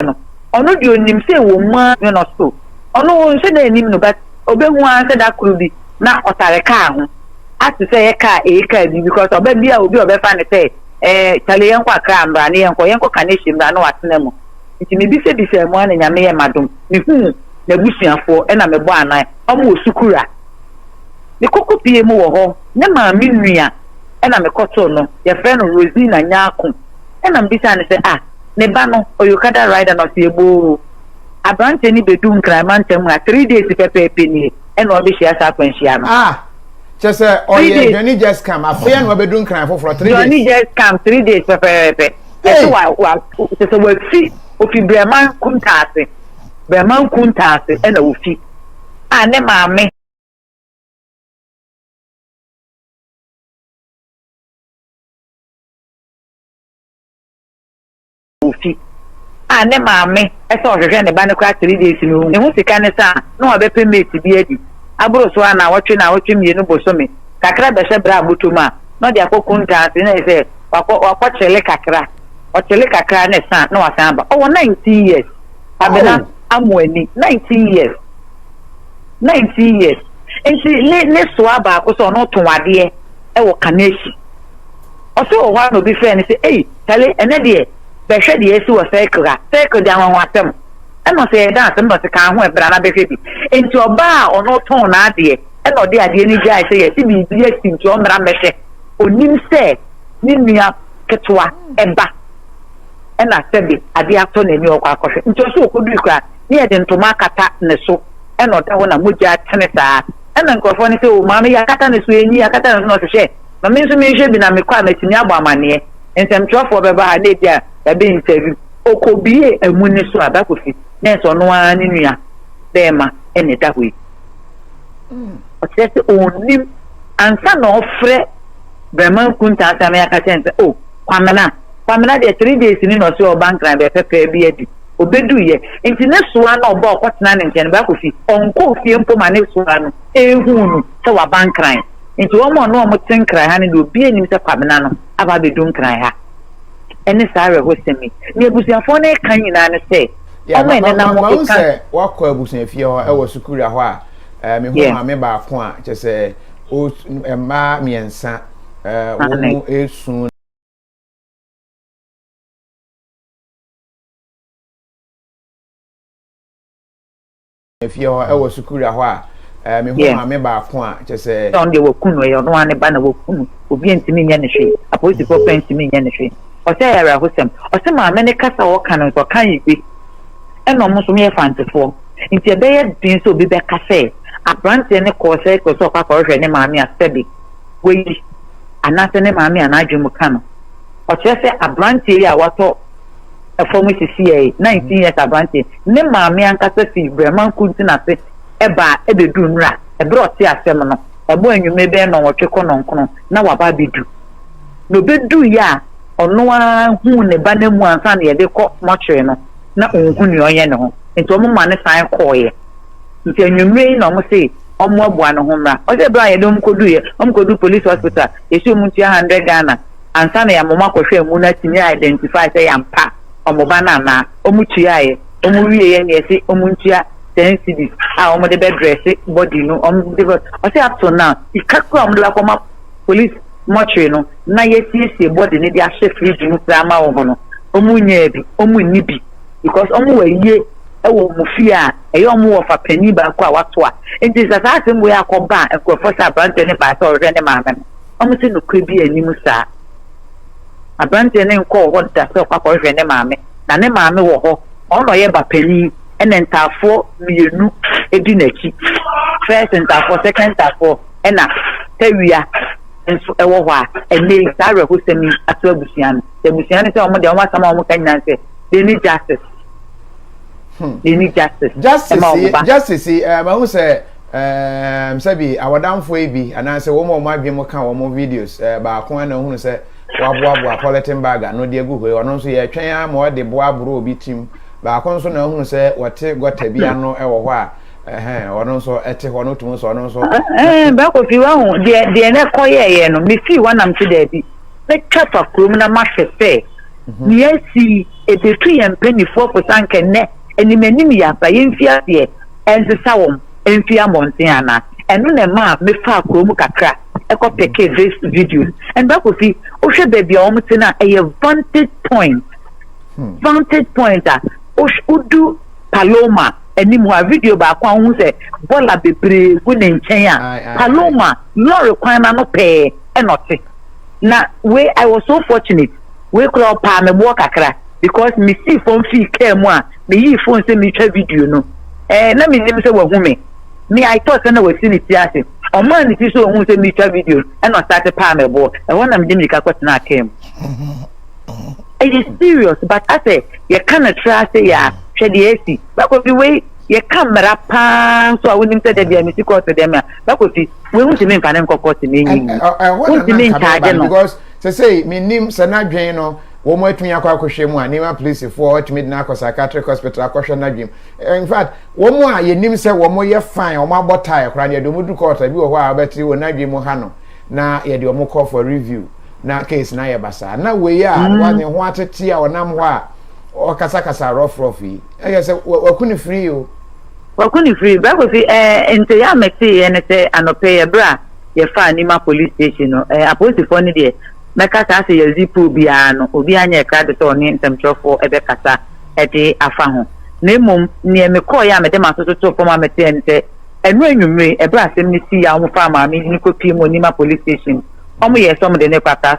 ase no, ɔno deɛ ɔnim sɛ ɛwɔ mu ara ne no so. Ɔno ɔnhwɛ dɛ ɛnim no but ɔbɛhu ara sɛ da koro bi na ɔtare kaa ho ate sɛ yɛ kaa ɛyɛ kaa bi because ɔba bi a obi a ɔbɛfa no sɛ eh, kyale yɛnkɔ akra mbra ne yɛnkɔ yɛnkɔ ka ne hyɛ mbra na watena mu nti mebisabisaa mu ara na nyame yɛ madom mehuu n'abusuafoɔ ɛna mebɔ anan ɔmo wɔ sukura ne koko pie mu wɔ hɔ ne maame nua ɛna mekɔtoo no yɛfrɛ no Rosina Nyako Ɛna mebisaa no sɛ, Ah, ne ba no, ɔyɛ okada rider? Na ɔse, Yɛbɔɔ aberanteɛ no bɛduu Nkran mantam ha three days pɛpɛɛpɛ nie ɛna ɔbɛhyia saa akwanhyia no. Ah, kyerɛ sɛ ɔyɛ Johnny just come, afei ɛna ɔbɛdu Nkran foforɔ three days. Johnny just come three days pɛpɛɛpɛ. Ɛsɛ wa wa kyerɛ sɛ wafi ofi Brɛman Kuntaase Brɛman Kuntaase ɛna ofi a ne maame. ofi a ne maame sɛ ɔhwehwɛ ne ba no koraa three days no ohu ɛho sika ne sɛ a na wabɛpɛ mate bi adi aboro so a na awɔtwe na awɔtwe mmienu bosome kakra bɛhyɛ berɛ a bɔtɔm a na ɔde akɔ kuntaa se na yɛ sɛ wakɔ wakɔ kyele kakra ɔkyele kakra ne sa na wasan aba ɔwɔ nineteen years abena oh. amu ani nineteen years nineteen years nti ne ne soa baako sɛ ɔno to adeɛ wɔ kane akyi. Ɔse wɔ hɔ ara na obi frɛɛ no sɛ, Ei, Tale, ɛnɛ deɛ, bɛhwɛ deɛ asi wɔ circle ha. Circle deɛ anwanwasɛm. Ɛna ɔse ɛyɛ dance, ɛna ɔse kaa ho ɛ, bra na bɛhwɛ bi. Enti ɔbaa a ɔno ɔtɔn n'adeɛ, ɛna ɔde adeɛ no gyae sɛ yɛasi biribi asi nti ɔmmra mmɛhwɛ. Ɔnim sɛ ne nua ketewa ba, ɛna sɛbe adeɛ atɔ n'ani ɔkɔ akɔhwɛ. Nti ɔse ɔkɔdui koraa, ne yɛde ntoma akata ne so na ɔda hɔ na mogya tene saa na nkurɔfoɔ no sɛ o maame yɛakata ne so ɛnyi yɛakata ne so na ɔsɛ hwɛ ma me nso menhwɛ bi na mekɔ a matumi abɔ amanneɛ nsɛmtwerɛfoɔ bɛba ha na ebi a yɛabɛ interview ɔkɔbie amu ne so a bakofi nɛɛsɛ ɔno ara ne nua bɛɛma ɛna ɛda hɔ yi ɔkyerɛ sɛ ɔnnim ansa na ɔfrɛ Brɛma nkuntaa saa na yɛaka kyerɛ no sɛ oh Kwamena, Kwamena deɛ three days ni na ɔse ɔɔba Nkran bɛɛ pɛpɛɛ bi adi. Ɔbɛduu yɛ nti ne soa no a ɔba a ɔkɔtena ne nkyɛn no baako fi ɔnkɔɔ fie mpo ma ne soa no ɛɛhuu no sɛ waba Nkran. Nti wɔn a ɔne wɔn te Nkran ha no deɛ obiaa nnim sɛ Kwamena no aba abɛdu Nkran ha. Ɛne saa awerɛhosɛm yi. Deɛ abusuafoɔ no reka nyinaa ne sɛ wɔn a ɛnenam ɛka. Mahu sɛ woakɔ abusuafie hɔ ɛwɔ Sukuria hɔ a mehu maame baako a kyerɛ sɛ mmaa mmiɛnsa wɔn mu esu. efie hɔ ɛwɔ sukuura hɔ a mehu maame baako a kyɛ sɛ. sɛ ɔno deɛ wɔku no ɛyɛ ɔno ara ne ba na wɔku no obi ntumi nyɛ ne hwee apolisifoɔ pɛn ntumi nyɛ ne hwee ɔsɛ ɛyɛ awerɛhosɛm ɔsɛ maame ne kasa ɔka no nso ɔka yiwe. ɛna wɔn nso wɔyɛ Fantefoɔ. Nti ɛbɛyɛ den sɛ obi bɛka sɛ abranteɛ no kɔɔ circle sɛ ɔkɔ akɔhwehwɛ ne maame a sɛbe wayi anaasɛ ne maame a n'adwene mu ka no. Ɔkyerɛ sɛ abranteɛ yi a watɔ fam sisi yɛ 19 years abranteɛ, ne maame ankasa fi Brɛman Kuntin ase baa ɛbɛduru nnura. Ɛberɛ a ɔte asɛm no, ɛbɔ anwummere bɛyɛ nnɔnwɔtwe kɔ nnɔnkron na waba abɛdu. Na ɔbɛduiɛ a, ɔno ara huu ne ba no amu ansa na yɛde rekɔ mortuary no. na onhu nea ɔnyɛ ne ho nti wɔn ma no san kɔeɛ nti anwummerɛ yi na wɔn se wɔn aboa ne ho mmra ɔsɛ berɛ a yɛde wɔn kɔduiɛ wɔn kɔdu police hospital yɛsi wɔn tua hundred Ghana ansa na yɛama wɔn akɔhwɛ amu no atumi identify sɛ yɛampa wɔn ba no anaa wɔn tuaeɛ wɔn wieɛ na yɛse wɔn ntua ten cedis a wɔn de bɛdrɛse body no wɔn de bɛ ɔsɛ up to now sika kura wɔn de bɛkɔ ma police mortuary no na yɛasiesie body no de ahyɛ fridge mu koraa ma wɔn no, wɔnyaa bi, wɔnni bi because wɔn wɔ ayie wɔ wɔn fie a ɛyɛ wɔn wɔfa panin baako a wato a. Nti sɛ saa asɛm wei akɔba a nkurɔfoɔ sɛ aberanteɛ no baa sɛ ɔrehwɛ ne maame no, wɔn se nokorɛ bi anim saa. Aberanteɛ no nkɔɔ hɔ da sɛ ɔkɔ akɔhwehwɛ ne maame, na ne maame wɔ hɔ, ɔno na ɔyɛ ba panin, ɛna ntaafoɔ mmienu di n'akyi, first ntaafoɔ, second ntaafoɔ. ɛna tawia nso ɛwɔ hɔ a, ɛnɛ yi saa awerɛhosɛm yi ato abusua no. Sɛ abusua no sɛ wɔn deɛ wɔn asɛm a wɔn ka nyinaa sɛ they need justice. Hmm. They need justice. Justice yi justice yi ɛɛ mahu sɛ ɛɛ sɛbi awɔdanfoɔ yi bi anaasɛ wɔn a wɔn adwene mu ka wɔn videos ɛɛ baako ɛna ohunu sɛ waboaboa polythene bag ano de agu hɔ yi ɔno nso yɛ twɛn ama ɔde boa aboro obi tirim baako nso na ohunu sɛ wɔte gɔta bi ano ɛwɔ hɔ a. Ɛhɛn, ɔno nso ɛte hɔ no tumi sɛ ɔno nso. Ɛhɛn, bɛkɔ fi wahu deɛ deɛ na ɛkɔ yɛɛyɛ no mefii hɔ nam te daabi mɛtwa fa kurom na mahwɛ sɛ mhm. nea asi ebetu yɛn mpanimfoɔ fo sa nkɛ nnɛ anim anim yɛ aba yɛmfi aseɛ ɛnsesa wɔn ɛmfi mmɔnten ana ɛno na ɛma mefaa kurom kakra ɛkɔ pɛkɛ this video and bɛkɔ fi wohwɛ baabi a wɔn te no a ɛyɛ vantage point hmm. vantage point a wodu Paloma anim hɔ a, video baako a wohu sɛ bɔla bebree gu ne nkyɛn a, Paloma lɔre kwan no ano pɛɛ ɛna ɔte. Na wei I was so fortunate, wei koraa ɔpaa me boɔ kakra because mesii fam fii kaa mu a meyii phone sɛ meretwa video no. Eh, na menim sɛ wahu me. Me I thought sɛ na wasi ne ti ase. Ɔmaa ne ti so ohuu sɛ meretwa video ɛna ɔsate paa me boɔ. Ɛhɔ na mede mmirika kɔtenaa kaa mu. ɛyɛ serious but asɛ yɛka no tra ase yɛ a hwɛ deɛ asi bɛkɔfi wei yɛka mmara paa nso a wonim sɛ dabi a mesi kɔɔto deɛ ma bɛkɔfi wei wontumi mfa ne nkɔ kɔɔto na ɛnyi mu wontumi ntaagye no because sɛ sɛ menim sɛ n'adwen no wɔn atumi akɔ akɔhwɛ mu a nneɛma polisifoɔ atumi de no akɔ psychiatric hospital akɔhwɛ n'adwen in fact wɔn a yɛnim sɛ wɔn yɛ fine wɔn abɔ tae koraa no yɛde wɔn duru kɔɔto bi wɔ hɔ a wɔbɛte wɔn n'adwen mu ha no na yɛde wɔn kɔ for review na case no ayɛ basaa na wei a mm. wa ne ho atete a ɔnam hɔ a ɔkasakasa rɔfrɔf yi ɛyɛ sɛ waku ne firi o waku ne firi bible si ɛɛ nti yɛ a meteeɛ ne sɛ anɔpɛ yɛ berɛ a yɛfaa nima police station no ɛɛ apolisifoɔ no deɛ mɛka saa sɛ yɛdzi puo biara no obi anyɛ ɛkra de sɛ ɔne nsɛmtwerɛfoɔ ɛbɛkasa ɛde afa ho na mmom neɛ mekɔɔeɛ a mede m'aso so too fam a meteɛ ne sɛ ɛno anwummere ɛberɛ asɛm no sii a wɔfaa maame yi ne kɔpie mu onima police station Ɔmo yɛɛ sɛ ɔmo de no rekɔ Accra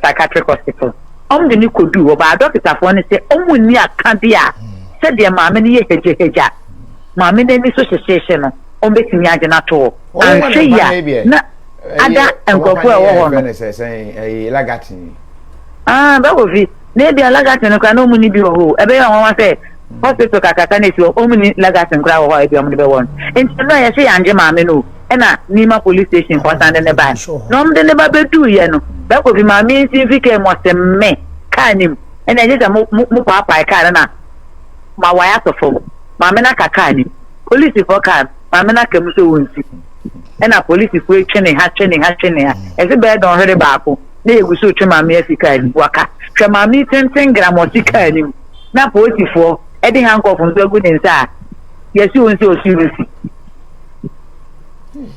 Psychiatric Hospital. Ɔmo de no koduu hɔ, baa dɔketafoɔ no sɛ ɔmo nni akadeɛ a sɛdeɛ maame no yɛ hagyahagya, maame no ani so hyehyeehye no, ɔmo bɛtumi agye no ato hɔ. Anhwɛ yie a na ada nkorɔfoɔ a ɛwɔ hɔ no. Aah, Brɛ Kofi, na ebia Lagatin no koraa na ɔmo nni bi wɔ hɔ o. Ɛbɛyɛ nwanwa sɛ. Hospital kakraka na esi hɔ, wɔn nni legacy nkoraa wɔ hɔ a ebia wɔn de bɛwɔ no. Nti ɛno a yɛse yangye maame no o, ɛna Nima police station fo asan de no bae. Na wɔn de no ba beduu yɛ no, bɛkɔ fi maame nsi mfi kaa mu ɔse me, kaa no mu, ɛna ɛnye sɛ mo, mo, mo paapae kaa no na ma wae ato fam. Maame no aka kaa no mu. Police fo kaa no, maame no aka mu sɛ wɔn nsi. Ɛna police fo etwe ne ha, twe ne ha, twe ne ha. Ɛse bɛyɛ dɔnhwere baako, na yɛgu so retwe maame afi kaa no mu. Waka, hwɛ maame tenten gram ɔte kaa no mu. na polisifoɔ de hankɔɔfo nso agu ne nsa a, yɛasi wɔn sɛ ɔsii wɔn si.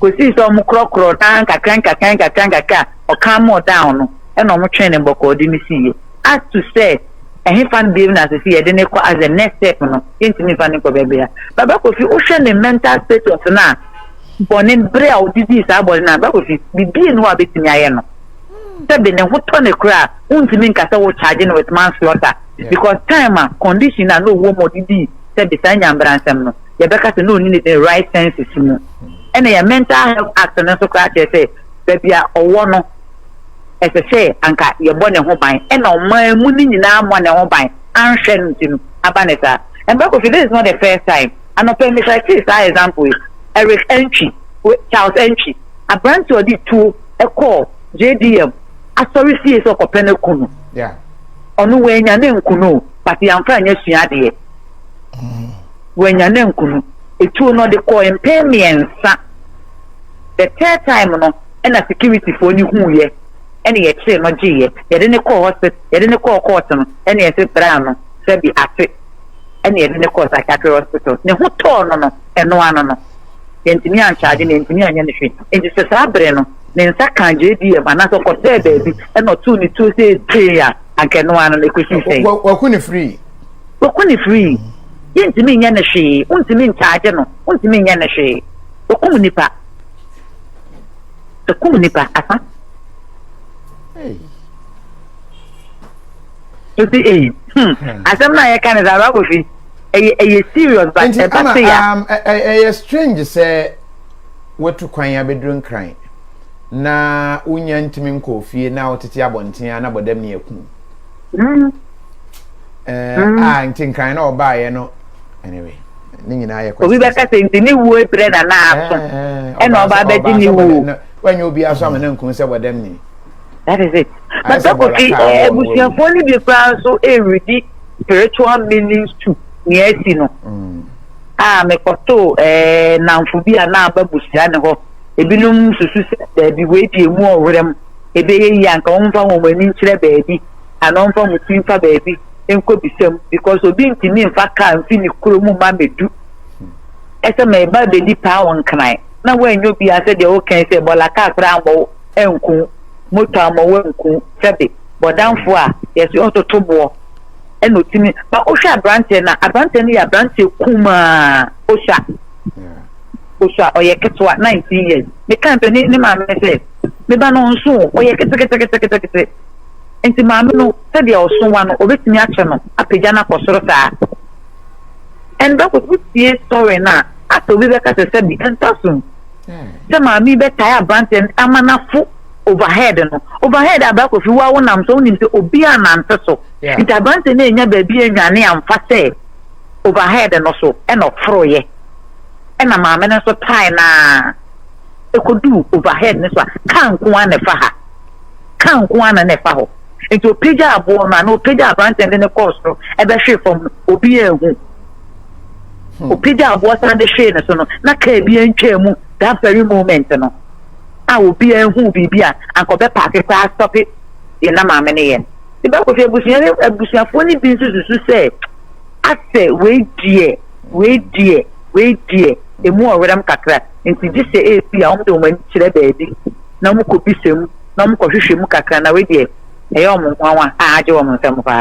Kɔsii sɛ wɔn korɔkorɔ na nkakra nkakra nkakra nkakra ɔkan mu ɔdan no ɛna wɔn twɛn ne mbɔkɔɔde no siiɛ. As to sɛ ɛhefa no biem na asɛ sɛ yɛde ne kɔ as the next step no, yɛntumi nfa ne nkɔ baabi a. Baba Kofi, wohwɛ ne mental status no a, bɔne berɛ a ɔdedii saa bɔne no a, Baba Kofi, biribi nni hɔ a wobɛtumi ayɛ no. sɛbi ne ho tɔ ne koraa wontumi nka sɛ wo charge no with manslaughter because time a condition a na ɔwɔ mu ɔde dii sɛbi saa nyambra nsɛm no yɛbɛka sɛ na ɔni ne ne right senses mu ɛna yɛ mental health act no nso koraa kyerɛ sɛ baabi a ɔwɔ no ɛsɛ sɛ anka yɛbɔ ne ho ban ɛna ɔman mu ne nyinaa mmɔ ne ho ban anhwɛ no nti no aba ne saa mbɛkɔ fi this is not the first time anɔpɛ mekra tee saa example yi Eric Antwi Charles Antwi aberante ɔde tuo ɛkɔɔ JDM asɔre fie sɛ ɔkɔpɛ no aku no. Yeah. Ɔno wanya ne nkunu o, but yɛamfa nyɛ sua adeɛ. Mm. Wanya ne nkunu. Etuo no ɔde kɔɔ mpɛn mmiɛnsa. The third time no, ɛna securityfoɔ no huiɛ, ɛne yɛkyeree no gyeeɛ. Yɛde ne kɔɔ hospital, yɛde ne kɔɔ court no, ɛne yɛse bra no, sɛbi ate, ɛne yɛde ne kɔɔ psychiatric hospital. Ne ho tɔɔ no no, ɛno ano no. yɛantumi ancharge no, yɛantumi anyɛ no hwee. Enti sɛ saa bere no ne nsa kaa JDM anaasɛ ɔkɔsɛɛ baabi na ɔtoo ne tuo sɛ gyee a, anka ɛno ara no na ɛkɔsii sɛn? Wɔ- Wɔko ne firii. Wɔko ne firii. Yɛntumi nyɛ no hwee. Wontumi nkyagye no. Wontumi nyɛ no hwee. Wɔkum nipa. Wɔkum nipa. Aha. Hey. Nti, eh, hmm, hmm. asɛm no a yɛka no sɛ ababofi ɛyɛ ɛyɛ serious but Nti ɛba ama se ya um, ɛ- ɛ- ɛyɛ strange sɛ watu kwan abɛduru nkran na wonya ntumi nkɔɔ fie na wotete abɔnten a na bɔdam ne aku mm, Eh, mm. a nti nkran na ɔbaeɛ no anyway ne nyinaa yɛ obi questions a bɛka sɛ nti ne wuo brɛ na na aso Eh, eh, ɛna ɔbaa ɔba sɛ- abɛgye ɔbaa ne sɛ bɔdɛ- wuo na- wanyɛ obi aso ama no anku sɛ bɔdam ni That is it. But that could be abusuafoɔ ni bi koraa nso ɛredi spiritual meanings to nea asi no. Mm. A ah, mekɔto ɛɛ nnamfo bi a na aba busua ne hɔ. Ebinom susu sɛ baabi wei di emu ɔwerɛ mu. Ebɛyɛ yie anka wɔn mfa wɔn ani nkyerɛ baabi. Ana wɔn mfa wɔn ti nfa baabi nkɔ bisam because obi ntumi nfa kaa nfi ne kuro mu ma medu. Ɛsɛ mɛ ba bedi paa wɔn nkran na wɔanyɛ obi asɛ deɛ wɔka sɛ bɔla kaa koraa mbɔ nku, moto a ma wɔnku, sɛbe bɔdamfo a yɛse ɔtoto boɔ ɛna ɔtumi ba wohwɛ aberanteɛ no a aberanteɛ no yɛ aberanteɛ kumaa osua osua ɔyɛ ketewa 19 years meka mpɛ ne ne maame sɛ meba no nso ɔyɛ keteketeketekete nti maame no sɛdeɛ ɔsowa no ɔbɛtumi akyɛ no apagya no akɔ soro saa ɛnbɛkɔ so sie sɔre no a asɛ obi bɛka sɛ sɛbi ɛntɔ so sɛ maame yi bɛtae aberanteɛ no ama no afo overhead no overhead a baako fi wo a wonam so wonim sɛ obi a nante so nti aberanteɛ no anya baabi anwane amfa sɛ overhead no so ɛna ɔforoyɛ ɛna maame no nso tae no a ɛkɔduu overhead no so a kaa nko ara na ɛfa ha kaa nko ara na na ɛfa hɔ nti ɔpagya aboɔ no a na ɔpagya aberanteɛ no de ne kɔɔ soro ɛbɛhwee fam no obi anhu ɔpagya hmm. aboɔ san de hwee ne so no na kaa bi antwaa mu that very moment no a obiara hu biribi a anka ɔbɛpaake koraa stɔpe yɛn na maame ne yɛn ne bɛkɔhwɛ abusua ne abusuafoɔ no bi nso susu sɛ asɛ wei deɛ wei deɛ wei deɛ emu ɔwerɛm kakra nti gye sɛ ebi a wɔn de wɔn ani kyerɛ baabi na wɔn kɔ bisa mu na wɔn kɔ hwehwɛ mu kakra na wei deɛ ɛyɛ wɔn nwanwa a agye wɔn nsam paa.